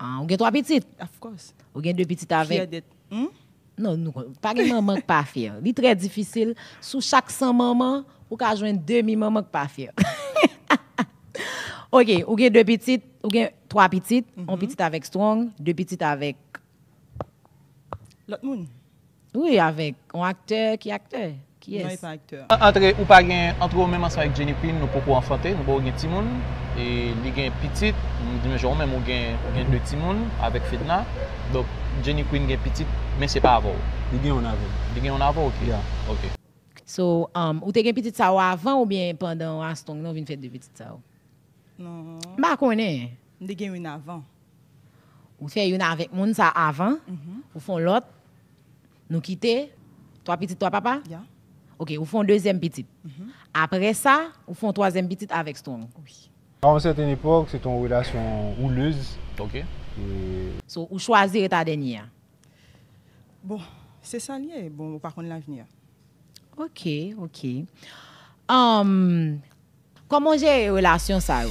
Ah, ou gen 3 pitit? Of course. Ou gen 2 pitit avèk? Fyè dèt. Hum? Non, nou kon, pa gen manman k pa fyè. Li trè difisil, sou chak 100 manman, ou ka jwenn demi manman k pa fyè. Ok, ou gen 2 pitit, ou gen 3 pitit, yon pitit avèk Strong, 2 pitit avèk. Lòt moun. Wi avèk on aktè ki aktè kiyès. Antre ou pa gen antre ou menm ansanm ak Jenny Queen nou poko anfante nou poko gen timoun e li gen pitit menm jan ou menm ou gen ou gen 2 timoun avèk Fedna donk Jenny Queen gen pitit men se pa avèw. Li gen youn avèm. Li gen youn avèw ok ok. So ou te gen pitit sa yo avan oubyen pandan Armstrong nan ou vin fè 2 pitit sa yo? M pa konnen. M te gen youn avan. Ou fè youn avèk moun sa a avan, ou fè yon lòt, nou kite, twa pitit twa papa? Ya. Ok, ou fè yon dezyèm pitit. Apre sa, ou fè yon twazyèm pitit avèk Strong. Wi. A yon sèten epòk, se te yon relasyon woulez. Ok. So, ou chwazi ret a dènye a? Bon, se sa l ye. Bon, ou pa konn lavni a. Ok, ok. Umm. Kòman w jere relasyon sa yo?